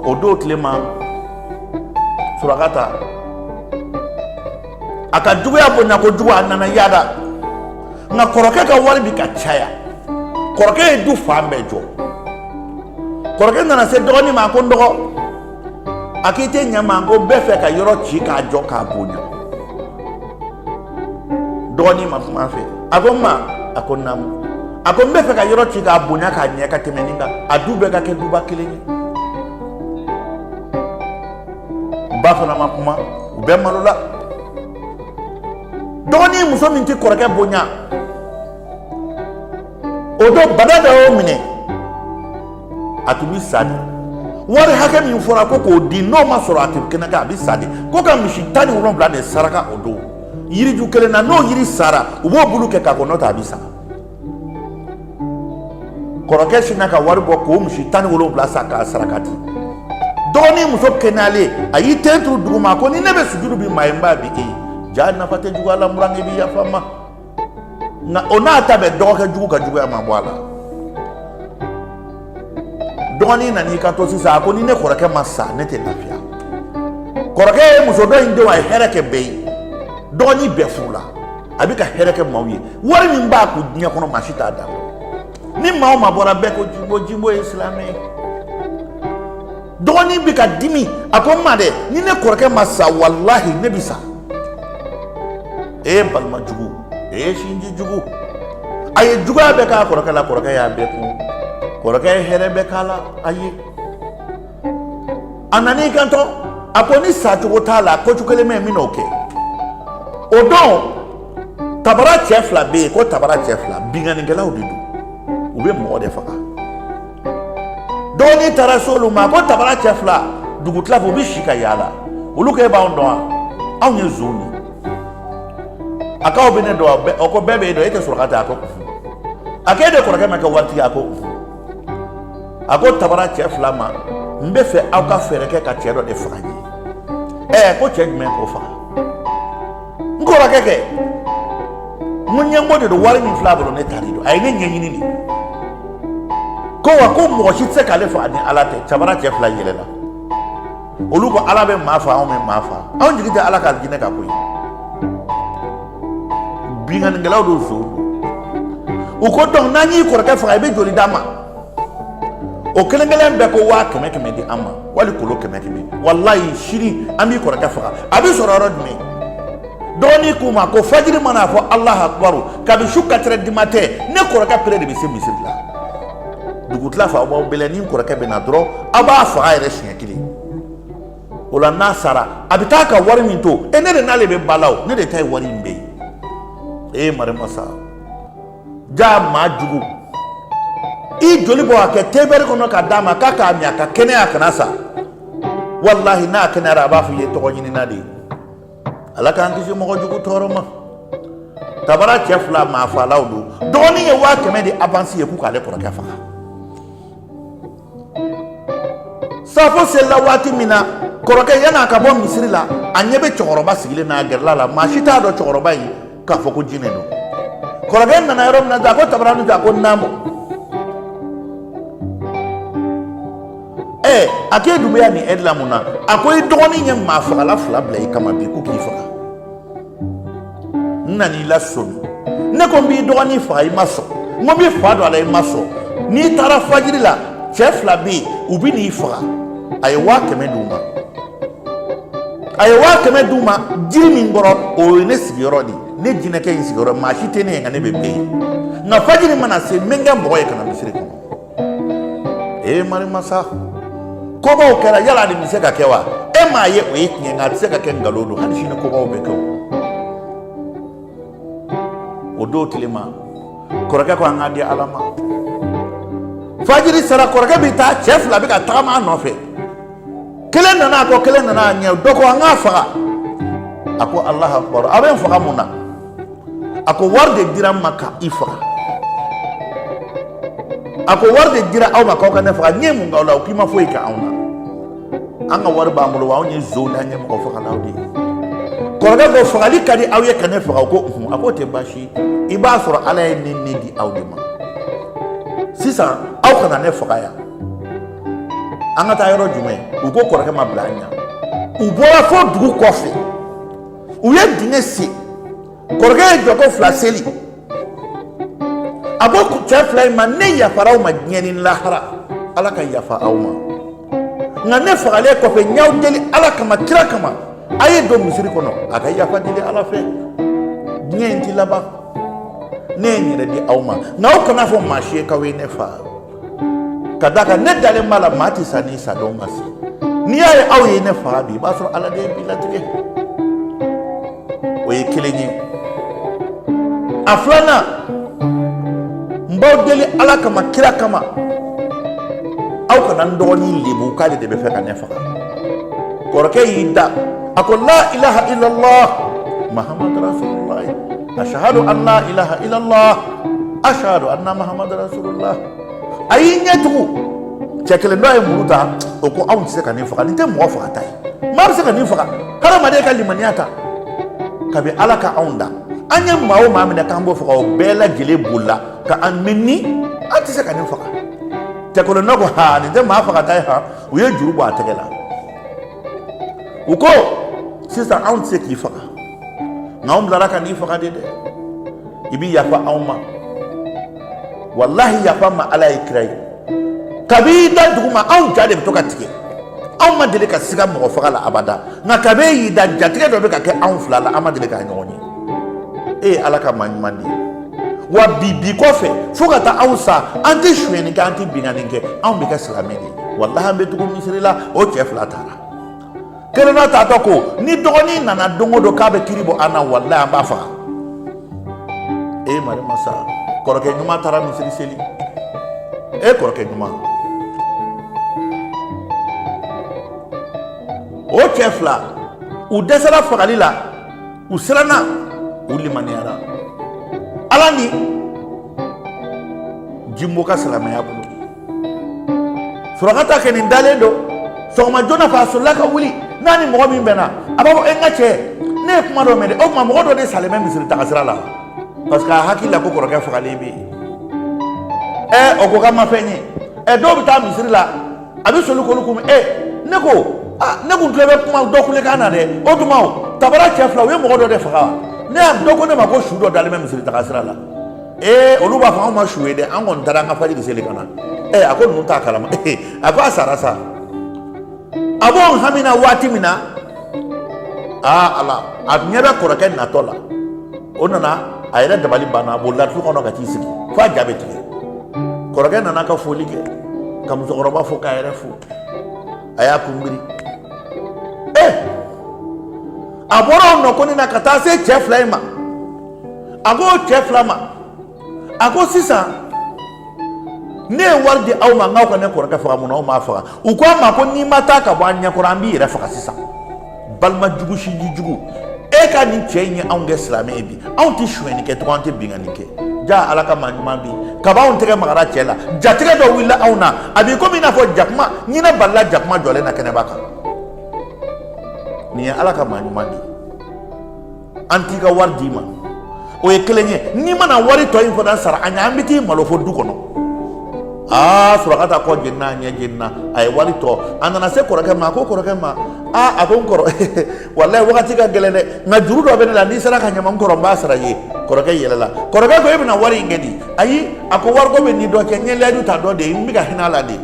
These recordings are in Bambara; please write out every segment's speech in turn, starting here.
o don tile ma surakata a ka juguya bonya kojugu a nana yaada nka kɔrɔkɛ ka wari bɛ ka caya kɔrɔkɛ ye du fan bɛɛ jɔ kɔrɔkɛ nana se dɔgɔnin ma ko n dɔgɔ a k'i tɛ ɲɛ n ma ko n bɛ fɛ ka yɔrɔ ci k'a jɔ k'a bonya dɔgɔnin ma kuma a fɛ a ko n ma a ko naamu a ko n bɛ fɛ ka yɔrɔ ci k'a bonya k'a ɲɛ ka tɛmɛ nin kan a du bɛɛ ka kɛ duba kelen ye ba fana ma kuma u bɛɛ malola dɔgɔnin muso min tɛ kɔrɔkɛ bonya o don bana dɔ y'o minɛ a tun bɛ sa de wari hakɛ min fɔra ko k'o di n'o ma sɔrɔ a tɛ kɛnɛya a bɛ sa de ko ka misi tan ni wolonwula de saraka o don yiriju kelen na n'o yiri sara u b'o bulu kɛ k'a ko n'o tɛ a bɛ sa kɔrɔkɛ sinna ka wari bɔ k'o misi tan ni wolonwula san k'a saraka di dɔgɔnin muso kɛnɛyalen a y'i ten turu duguma ko ni ne bɛ sujudu bin maa ye n b'a bin e ye jaa nafa tɛ juguya la n burankɛ bi yafa n ma nka o n'a ta bɛɛ dɔgɔkɛ jugu ka juguya ma bɔ a la dɔgɔnin nan'i kanto sisan a ko ni ne kɔrɔkɛ ma sa ne tɛ lafiya kɔrɔkɛ ye muso dɔ in denw a ye hɛrɛ kɛ bɛɛ ye dɔgɔnin bɛ fu la a bɛ ka hɛrɛ kɛ maaw ye wari min b'a kun diɲɛ kɔnɔ maa si t'a dɔn ni maa o maa bɔra bɛɛ ko jinbo jinbo ye silamɛ ye dɔgɔnin bɛ ka dimi a ko n ma dɛ ni ne kɔrɔkɛ ma sa walahi ne bɛ sa ee balima jugu ee sinji jugu a ye juguya bɛɛ k'a kɔrɔkɛ la kɔrɔkɛ y'a bɛɛ kun kɔrɔkɛ ye hɛrɛ bɛɛ k'a la a ye a nan'i kanto a ko ni sa cogo t'a la ko cogo kelen bɛ yen n bɛn'o kɛ o don tabara cɛ fila bɛ yen ko tabara cɛ fila binkannikɛlaw de don u bɛ mɔgɔ de faga dɔgɔnin taara se olu ma ko tabara cɛ fila dugu tila fɛ u bɛ si ka yaala olu ko e b'anw dɔn wa anw ye zonw ye a k'aw bɛ ne dɔn wa u ko bɛɛ b'e dɔn e tɛ surakata ye a ko a ko e de kɔrɔkɛ ma kɛ waritigi ye a ko a ko tabara cɛ fila ma n bɛ fɛ aw ka fɛɛrɛ kɛ ka cɛ dɔ de faga n ye ɛɛ ko cɛ jumɛn k'o faga n kɔrɔkɛ kɛ mun ɲɛngo de don wari min fil'a bolo ne ta de don a ye ne ɲɛɲini de ko wa ko mɔgɔ si tɛ se k'ale faga ni ala tɛ tabara cɛ fila yɛlɛla olu ko ala bɛ maa faa anw bɛ maa faa anw jigi tɛ ala ka alijinɛ kan koyi binkannikɛlaw don sa u ko dɔn n'an y'i kɔrɔkɛ faga i bɛ joli d'an ma o kelen kelen bɛɛ ko waa kɛmɛ kɛmɛ di an ma wali kolo kɛmɛ kɛmɛ walayi sini an b'i kɔrɔkɛ faga a bɛ sɔrɔ yɔrɔ jumɛn dɔgɔnin k'u ma ko fajiri mana fɔ alahu akubaru kabi su katirɛ di matɛn ne kɔrɔkɛ pere de bɛ se misiri la dugutila fɛ aw b'a bɛlɛn ni kɔrɔkɛ bɛ na dɔrɔn aw b'a faga yɛrɛ siɲɛ kelen o la n'a sara a bɛ taa ka wari min to yen ne de n'ale bɛ balaw ne de ta ye wari in bɛɛ ye ee marimasa jaa maa jugu i joli bɔ a kɛ tewɛri kɔnɔ ka d'a ma k'a k'a min a ka kɛnɛya a kana sa walahi n'a kɛnɛyara a b'a fɔ i ye tɔgɔ ɲinina de ye ala k'an kisi mɔgɔ jugu tɔɔrɔ ma tabara cɛ fila maa faalaw don dɔgɔnin ye waa kɛmɛ di avansi ye k'u k'ale kɔrɔkɛ faga safo selila waati min na kɔrɔkɛ yann'a ka bɔ misiri la a ɲɛ bɛ cɛkɔrɔba sigilen na a gɛrɛla a la maa si t'a dɔn cɛkɔrɔba ye k'a fɔ ko jinɛ don kɔrɔkɛ nana yɔrɔ min na a ko tabaranin a ko naamu ɛɛ a k'e dun bɛ yan nin ɛri la mun na a ko i dɔgɔnin ye maa fagala fila bila i kama bi ko k'i faga n nan'i lasomi ne ko n b'i dɔgɔnin faga i ma sɔn n ko n bi fa don a la i ma sɔn n'i taara fajiri la cɛ fila bɛ yen u bɛ n'i faga a ye waa kɛmɛ d'u ma a ye waa kɛmɛ d'u ma jiri min kɔrɔ o ye ne sigiyɔrɔ de ye ne jinɛkɛ in sigiyɔrɔ maa si tɛ ne ye nka ne bɛ bɛɛ ye nka fajiri mana se n bɛ n kɛ mɔgɔ ye ka na misiri kɔnɔ ee marimasa kobaw kɛra yala nin bɛ se ka kɛ wa e m'a ye o ye tiɲɛ nka a tɛ se ka kɛ nkalon don hali sini kobaw bɛ kɛ o don tile ma kɔrɔkɛ ko an k'a di ala ma fajiri sera kɔrɔkɛ bɛ taa cɛ fila bɛ ka tagama a nɔfɛ kelen nana a kɔ kelen nana a ɲɛ dɔ ko an k'a faga a ko alahu akubaru a bɛ n faga mun na a ko wari de dira n ma ka i faga a ko wari de dira aw ma k'aw ka ne faga n ye mun k'aw la o k'i ma foyi kɛ anw na an ka wari b'an bolo wa anw ye zonw ani mɔgɔ fagalaw de ye kɔrɔkɛ ko fagali ka di aw ye ka ne faga o ko a k'o tɛ baasi i b'a sɔrɔ ala ye ne ni di aw de ma sisan aw kana ne faga yan an ka taa yɔrɔ jumɛn u ko kɔrɔkɛ ma bila an ɲɛ u bɔra fo dugu kɔfɛ u ye dingɛ sen kɔrɔkɛ ye jɔko fila seli a ko cɛ fila in ma ne yafara aw ma diɲɛ ni lahara ala ka yafa aw ma nka ne fagalen kɔfɛ n y'aw deli ala kama kira kama a ye don misiri kɔnɔ a ka yafa deli ala fɛ diɲɛ in ti laban ne ye n yɛrɛ di aw ma nka aw kan'a fɔ maa si ye k'aw ye ne fa ka d'a kan ne dalen b'a la maa tɛ sa ni sa don ma se n'i y'a ye aw ye ne faga bi i b'a sɔrɔ ala de ye bi latigɛ o ye kelen ye a filanan n b'aw deli ala kama kira kama aw kana n dɔgɔnin lebu k'ale de b'a fɛ ka ne faga kɔrɔkɛ y'i da a ko la ilaha illallah muhammadu rasulullah ashhadu an la ilaha illallah ashhadu anna muhammadu rasulullah a y'i ɲɛ tugu cɛ kelen dɔ ye muru ta o ko anw tɛ se ka nin faga nin tɛ mɔgɔ fagata ye maa bɛ se ka nin faga hadamaden ka limaniya ta kabi ala ka anw da an ye maa o maa minɛ k'an b'o faga o bɛɛ lajɛlen bolila ka an minni an tɛ se ka nin faga cɛ kelen dɔ ko ha nin tɛ maa fagata ye ha u ye juru bɔ a tɛgɛ la u ko sisan anw tɛ se k'i faga nka anw bilara ka n'i faga de dɛ i bi yafa anw ma walahi yafa ma ala ye kira ye kabi i da duguma anw ja de bɛ to ka tigɛ anw ma deli ka siga mɔgɔ faga la abada nka kabi e y'i da jatigɛ dɔ bɛ ka kɛ anw fila la an ma deli k'a ɲɔgɔn ye e ye ala ka maa ɲuman de ye wa bi bi kɔfɛ fo ka taa anw sa an tɛ sonyɛni kɛ an tɛ binkanni kɛ anw bɛ kɛ silamɛ de ye walahi an bɛ tugu misiri la o cɛ fila taara kelenna taatɔ ko ni dɔgɔnin nana don o don k'a bɛ kiri bɔ an na walayi an b'a faga e mari masa kɔrɔkɛ ɲuman taara misiri seli e kɔrɔkɛ ɲuman o cɛ fila u dɛsɛra fagali la u siranna u limaniyara ala ni jimbo ka silamɛya bolo surakata kɛ nin dalen don sɔgɔma joona fɛ a solila ka wuli n'a ni mɔgɔ min bɛnna a b'a fɔ e n ka cɛ ne ye kuma dɔ mɛn dɛ o tuma mɔgɔ dɔ de salen bɛ misiri tagasira la parce que a hakili la ko kɔrɔkɛ fagalen bɛ yen ɛ o ko k'a ma fɛn ye ɛ dɔw bɛ taa misiri la a bɛ soli k'olu kunbɛn ɛ ne ko aa ne kun tulo bɛ kuma dɔ kulekan na dɛ o tuma o tabara cɛ fila u ye mɔgɔ dɔ de faga ne y'a dɔ ko ne ma ko su dɔ dalen bɛ misiri tagasira la ee olu b'a fɔ anw ma su ye dɛ an kɔni taara an ka fajiri seli ka na ee a ko ninnu t'a kalama a ko a sara sa a b'o hami na waati min na aa ala a ɲɛ bɛ kɔrɔkɛ natɔ la o nana a yɛrɛ dabali banna a bolila du kɔnɔ ka t'i sigi fo a ja bɛ tigɛ kɔrɔkɛ nana ka foli kɛ ka musokɔrɔba fo k'a yɛrɛ fo a y'a kunbiri ee a bɔra o nɔgoni na ka taa se cɛ fila in ma a ko o cɛ fila ma a ko sisan ne ye wari di aw ma n k'aw ka ne kɔrɔkɛ faga munna aw m'a faga u ko a ma ko n'i ma taa ka bɔ an ɲɛkɔrɔ an b'i yɛrɛ faga sisan balima jugu sinji jugu e ka nin cɛ in ye anw kɛ silamɛ ye bi anw tɛ sonyɛni kɛ tugun an tɛ binkanni kɛ ja ala ka maa ɲuman bi kaba anw tɛgɛ magara cɛ la jatigɛ dɔ wulila anw na a b'i komi i n'a fɔ jakuma ɲinɛ balila jakuma jɔlen na kɛnɛba kan nin ye ala ka maa ɲuman de ye an t'i ka wari d'i ma o ye kelen ye n'i ma na wari tɔ in fana sara an ɲɛ an bɛ t'i malo fo du kɔnɔ aa surakata kɔ jenina ɲɛ jenina a ye wari tɔ a nana se kɔrɔkɛ ma a ko kɔrɔkɛ ma aa a ko n kɔrɔ walayi wagati ka gɛlɛn dɛ nka juru dɔ bɛ ne la n'i sera ka ɲa n ma n kɔrɔ n b'a sara i ye kɔrɔkɛ yɛlɛla kɔrɔkɛ ko e bɛna wari in kɛ di ayi a ko wariko bɛ n ni dɔ cɛ n ye layidu ta dɔ de ye n bɛ ka hinɛ a la de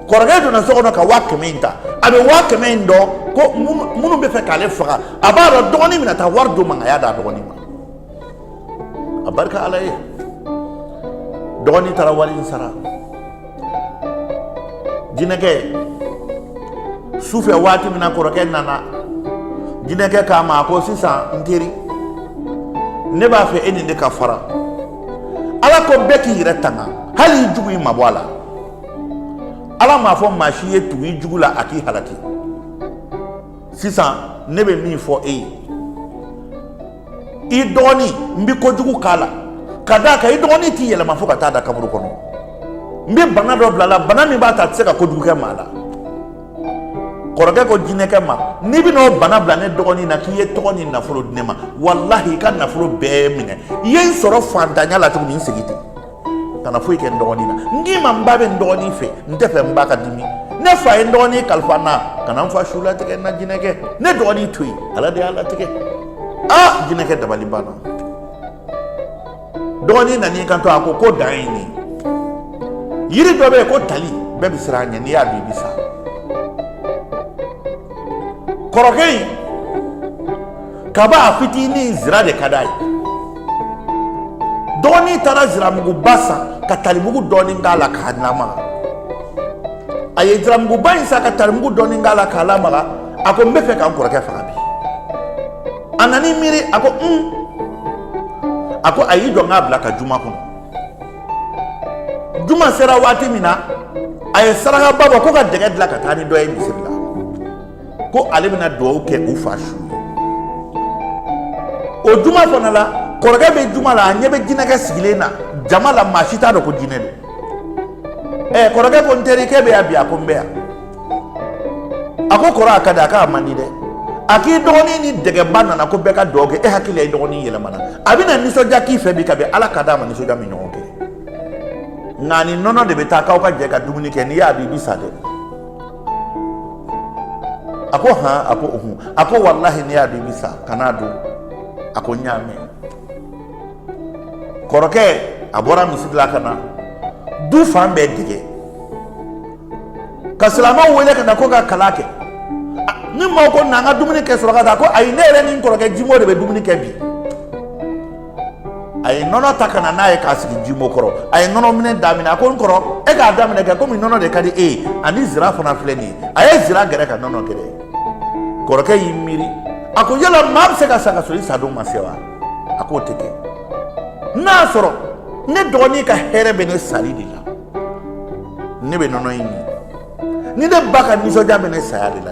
kɔrɔkɛ donna so kɔnɔ ka waa kɛmɛ in ta a bɛ waa kɛmɛ in dɔn ko minnu bɛ fɛ k'ale faga a b'a dɔn dɔgɔnin bɛna taa wari d'o ma a y'a d'a dɔgɔnin ma a barika ala ye dɔgɔnin taara wari in sara jinɛkɛ su fɛ waati min na kɔrɔkɛ nana jinɛkɛ k'a ma a ko sisan n teri ne b'a fɛ e ni n de ka fara ala ko bɛɛ k'i yɛrɛ tanga hali i jugu i mabɔ a la ala m'a fɔ maa si ye tugu i jugu la a k'i halaki sisan ne bɛ min fɔ e ye i dɔgɔnin n bɛ kojugu k'a la ka d'a kan i dɔgɔnin t'i yɛlɛma fo ka taa da kaburu kɔnɔ n bɛ bana dɔ bila a la bana min b'a to a tɛ se ka kojugu kɛ maa la kɔrɔkɛ ko jinɛkɛ ma n'i bɛna o bana bila ne dɔgɔnin na k'i ye tɔgɔ ni nafolo di ne ma walahi i ka nafolo bɛɛ minɛ i ye n sɔrɔ fantanya la cogo min n segin ten kana foyi kɛ n dɔgɔnin na n k'i ma n ba bɛ n dɔgɔnin fɛ n tɛ fɛ n ba ka dimi ne fa ye n dɔgɔnin kalifa n na kana n fa su latigɛ n na jinɛkɛ ne dɔgɔnin to yen ala de y'a latigɛ aa jinɛkɛ dabali banna dɔgɔnin nana i kanto a ko ko dan ye nin ye yiri dɔ bɛ yen ko tali bɛɛ bɛ siran a ɲɛ n'i y'a dun i bɛ sa kɔrɔkɛ in kaba a fitinin zira de ka d'a ye dɔgɔnin taara ziramuguba san ka talimugu dɔɔnin k'a la k'a lamaga a ye ziramuguba in san ka talimugu dɔɔnin k'a la k'a lamaga a ko n bɛ fɛ ka n kɔrɔkɛ faga bi a nana i miiri a ko un a ko a y'i jɔ n k'a bila ka juma kɔnɔ juma sera waati min na a ye sarakaba bɔ ko ka dɛgɛ dilan ka taa ni dɔ ye misiri la ko ale bɛna dugawu kɛ u fa su o juma fana la kɔrɔkɛ bɛ juma la a ɲɛ bɛ jinɛkɛ sigilen na jama la maa si t'a dɔn ko jinɛ don ɛ kɔrɔkɛ ko n terikɛ bɛ yan bi a ko n bɛ yan a ko kɔrɔ a ka di a k'a man di dɛ a k'i dɔgɔnin ni dɛgɛba nana ko bɛɛ ka dɔ kɛ e hakili la i dɔgɔnin yɛlɛmana a bɛna nisɔndiya k'i fɛ bi kabi ala k'a da a ma nisɔndiya min ɲɔgɔn kɛ nka ni nɔnɔ de bɛ taa k'aw ka jɛ ka dumuni kɛ n'i y'a min i bi sa dɛ a ko han a ko ohun a ko walahi n'i y'a min i bi sa kan'a dun a ko n y'a mɛn kɔrɔkɛ a bɔra misiri la ka na du fan bɛɛ dɛgɛ ka silamɛw wele ka na ko ka kalan kɛ ni maaw ko na an ka dumuni kɛ surakata ko ayi ne yɛrɛ ni n kɔrɔkɛ jimo de bɛ dumuni kɛ bi a ye nɔnɔ ta ka na n'a ye k'a sigi jimo kɔrɔ a ye nɔnɔ minɛ daminɛ a ko n kɔrɔ e k'a daminɛ kɛ komi nɔnɔ de ka di e ye ani zira fana filɛ nin ye a ye zira gɛrɛ ka nɔnɔ gɛrɛ kɔrɔkɛ y'i miiri a ko yala maa bɛ se ka sa ka sɔrɔ i sadon ma se wa a k'o tɛ kɛ n'a sɔrɔ ne dɔgɔnin ka hɛrɛ bɛ ne sali de la ne bɛ nɔnɔ in min ni ne ba ka nisɔndiya bɛ ne saya de la